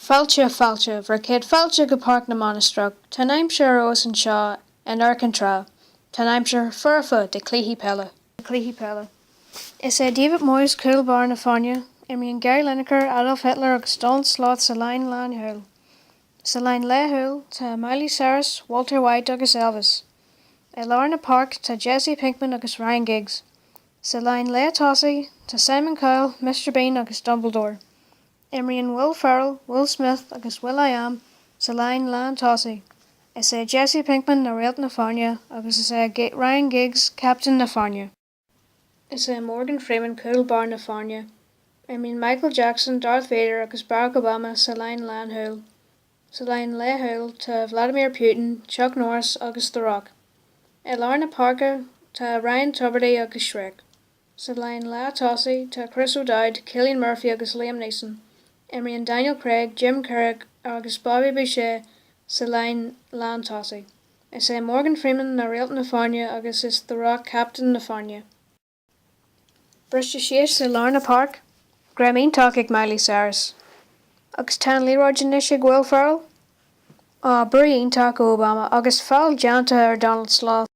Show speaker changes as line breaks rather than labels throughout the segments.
Fáilte, fáilte, bhur gcéad fáilte go Páirc na Mainistreach. Tá an aimsir abhus anseo in amharc an trá. Tá an aimsir foirfe do chluichí peile. do chluichí peile. Is é David Moyes cúl báire na foirne, imríonn Gary Lineker, Adolf Hitler agus Donald Sloth sa líne lánchúil. Sa líne leathchúil tá Miley Cyrus, Walter White agus Elvis. I lár na páirce tá Jesse Pinkman agus Ryan Giggs. Sa líne leath-thosaigh tá Simon Cowell, Mister Bean agus Dumbledore. Imríonn Will Ferrell, Will Smith agus will.i.am sa líne lántosaigh. Is é Jesse Pinkman na réalt na foirne agus is é Ryan Giggs captaen na foirne. Is é Morgan Freeman cúl báire na foirne. Imríonn Michael Jackson, Darth Vader agus Barack Obama sa líne lánchúil. Sa líne leathchúil tá Vladimir Putin, Chuck Norris agus The Rock. I lár na páirce tá Ryan Tubridy agus Shrek. Sa líne leath-thosaigh tá Chris O'Dowd, Cillian Murphy agus Liam Neeson. Imríonn Daniel Craig, Jim Carrey agus Bobby Boucher sa líne lántosaigh. Is é Morgan Freeman na réalt na foirne agus is The Rock captaen na foirne. Briste síos i lár na páirce, greim iontach ag Miley Cyrus. Agus tá an liathróid anois ag Will Ferrell? Aww brú iontach ó Obama agus feall déanta ar Donald Sloth.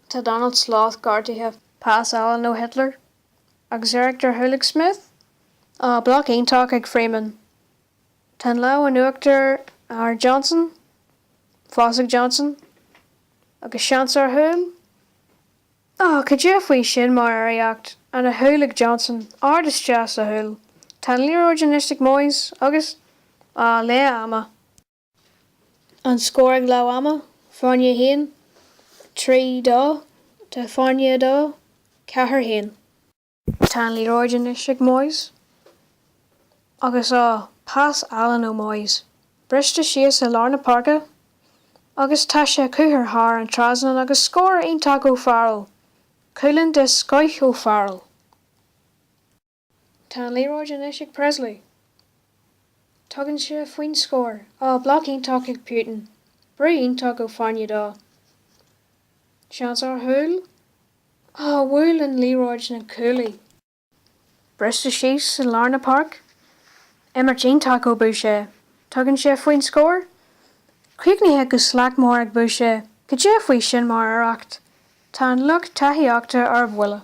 Tá Donald Sloth gortaithe. Pas álainn ó Hitler, agus iarracht ar chúl ag Smith? Ah, bloc iontach ag Freeman. Tá an lámh in uachtar ar Johnson, fós ag Johnson, agus seans ar chúl? Ah, cad é faoi sin mar iarracht, an-chúl ag Johnson, ard isteach sa chúl. Tá an liathróid anois ag Moyes agus, ah, leath ama. An scór ag leath ama, Foirne 1, 3, 2, d'Fhoirne 2, 4, 1. Tá an liathróid anois ag Moyes agus á pas álainn ó Moyes briste síos i lár na páirce agus tá sé curtha thar an trasnán agus scór iontach ó Farrell, cúilín den scoth ó Farrell. Tá an liathróid anois ag Presley. Tugann sé faoin scór. Á, bloc iontach ag Putin. Brú iontach ó Fhoirne Dó. Seans ar chúl. Á, bhuail an liathróid na cuaillí. Briste síos i lár na páirce. Imirt iontach ó Boucher. Tugann sé faoin scór. Críochnaithe go slachtmhar ag Boucher. Cad é faoi sin mar iarracht. Tá an lucht tacaíochta ar buile.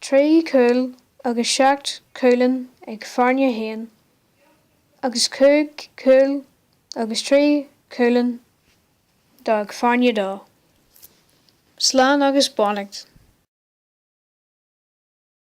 Trí chúl agus seacht chúilín ag Foirne hAon agus cúig chúl agus trí chúilín ag Foirne Dó. Slán agus beannacht.